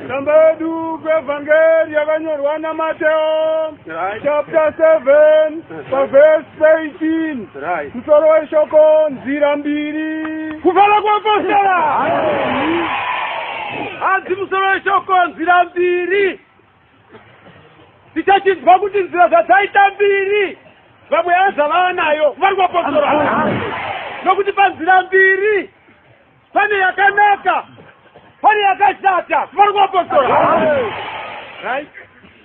Tsamba yedu kwevhangeri yakanyorwa naMateo chapter 7 pavhesi 18 musoro weshoko nzira mbiri kufara kwapostera hanzi musoro weshoko nzira mbiri Tichachinzwa kuti nzira zvadzaita mbiri vamwe yaza vava nayo vari kuvapostora nokuti panzira mbiri pane yakanaka pane yakashata vari kuvapostora right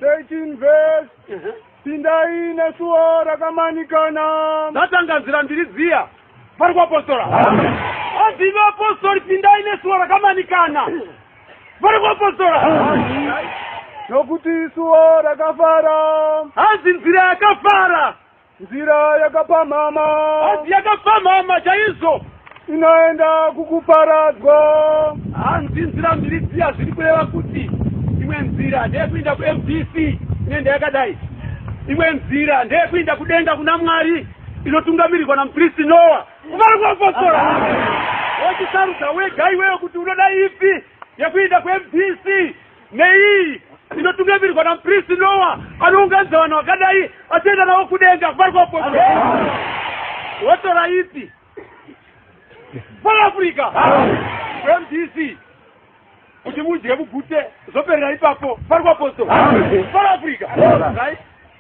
13 verse uh-huh. pindai nesuwo rakamanikana zvatanganzira mbiri dziya vari kuapostora hanzi imi apostori pindai nesuwa rakamanikana vari kuapostora nokuti isuwa rakafara hanzi nzira yakafara nzira yakapamhama hanzi yakapamhama chaizvo inoenda kukuparadzwa hanzi nzira mbiri dziya zviri kureva kuti imwe nzira ndeyekuinda kumdc ine ndeyakadai imwe nzira ndeyekuinda kudenga kuna mwari inotungamirirwa namupristi noa kuvana kuapostora wochisarudza wega iweyo kuti unoda ipi yekuinda kumbc neiyi inotungamirirwa namupristi noa anounganidza vanhu vakadai achienda navo kudenga kuvana kuapostora wotora ipi South Africa mdc kuti mudye mugute zvoperera ipapo pari kwaposto South Africa right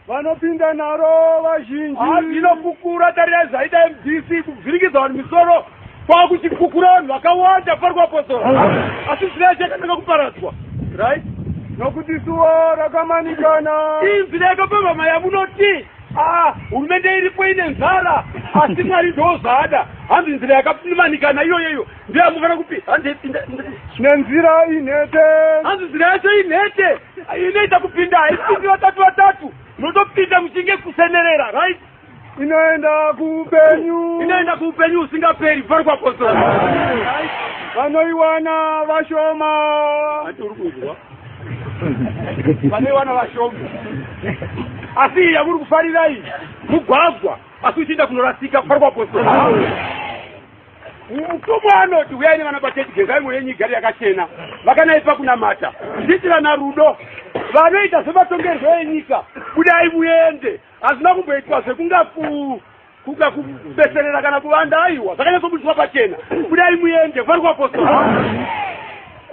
vanopinda naro vazhinji inokukura tarira zvaita mdc kuvhiringidza vanhu misoro kwakuchikukura vanhu vakawanda pari kwaposto asi zvinaa chakanaka kuparadzwa right nokuti suwa rakamanikana inzira yakapamhamaya munoti Ah, hurumende iripo ine nzara asi mwari ndoo zvaada hanzi nzira yakapfimanikana iyoyeyo ndeyamufanira kupi hanzi nenzira inhete hanzi nzira yacho inhete inoita kupinda haipindi vatatu vatatu munotopinda muchinge kusenerera right inoenda kuupenyu inoenda kuupenyu usingaperi pari kwakoso vanoiwana vashoma ati uri kunzwa pane vana vashoma asi iyi yamuri kufarirai mugwagwa asi uchienda kunorasika kufari kwapostori mutumwa anoti uyai nevana pachechi gezai mwoyo yenyu igari yakachena vakanaipa kunamata zviitirana rudo vanoita zvematongerwo enyika budai muende hazvina kumboitwa zvekungaku kuda kubeserera kana kuvanda aiwa zvakanyatsobudzwa pachena kudai muende vari kuapostola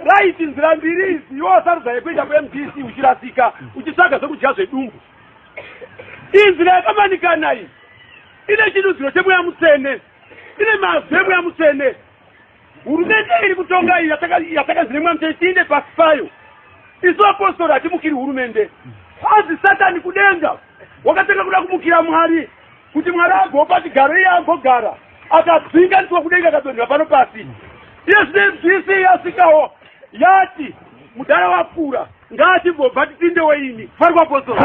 raiti nzira mbiri izi iwo sarudza yekuenda kumdc uchirasika uchitsvaga zvekudya zvedumbu inzira yakamanikana iyi ine chidudziro chemweya mutsvene ine mazwi emweya mutsvene Hurumende iri kutonga iyi yatakaziremwa mte tiinde pasi payo. Isu apostori hatimukiri hurumende. Hanzi Satani kudenga wakatanga kuda kumukira Mwari kuti Mwari agopa chigaro iye agogara akadzinga ndiwa kudenga akadonhera pano pasi. Iye zvine mzvisi yasikawo yati mudhara wakura ngati bobva tipinde weini fari kwaposo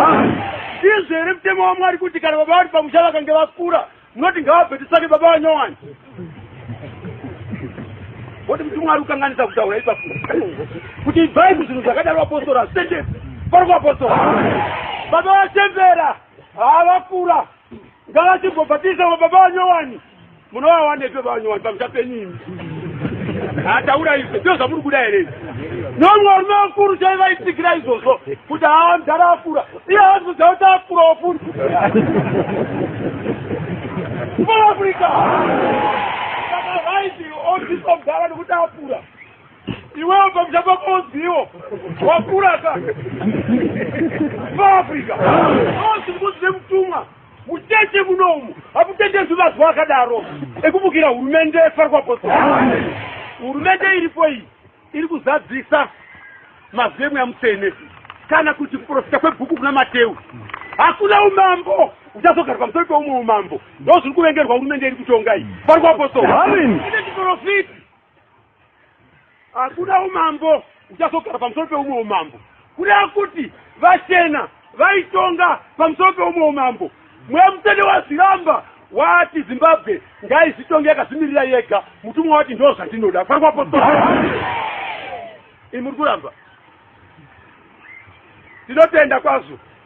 izvere mutemo wamwari kuti kana baba vari pamusha vakange vakura munoti ngavabve tisake baba vanyowani voti kuti mwari ukanganisa kutaura ipapo kuti ibvai kuzvinhu zvakadaro vapostora hazvitendepi pari kuvapostora baba vachembera havakura ngavachibhobhatisa va baba vanyowani munovawanepi baba vanyowani pamusha penyu imi hataura izvo ndo zvamuri kuda here nomwe varume vakuru chaivaitigira izvozvo kuti haa mdhara akura Iye azvudza kuti akurawo futi. Kumaafurika. Saka vaiti odziswa mudhara nekuti akura. Iwewe pamusha pako odziwo. Wakura ka. Kumaafurika. Ozi mukuti nemutumwa. Mucheche muno umu. Hamutenderwi mazuva akadaro. Ekubukira hurumende yefarikwa posita. Hurumende iripo iyi. iri kuzadzisa mazwi emweya mutsvene kana kuti kuprofita kwebhuku kuna mateu hakuna umambo uchazogara pamusoro peumwe umambo ndo zviri kuvengerwa hurumende iri kutonga iyi pari kuapostoachiprofiti hakuna umambo uchazogara pamusoro peumwe umambo Kureva kuti vachena vaitonga pamusoro peumwe umambo. Mweya mutsvene wazviramba wati Zimbabwe ngaizvitonge yakazvimirira yega. Mutumwa wati ndoo zvandinoda. Kwangwa postora. Imi muri kuramba. Tinotenda kwazvo.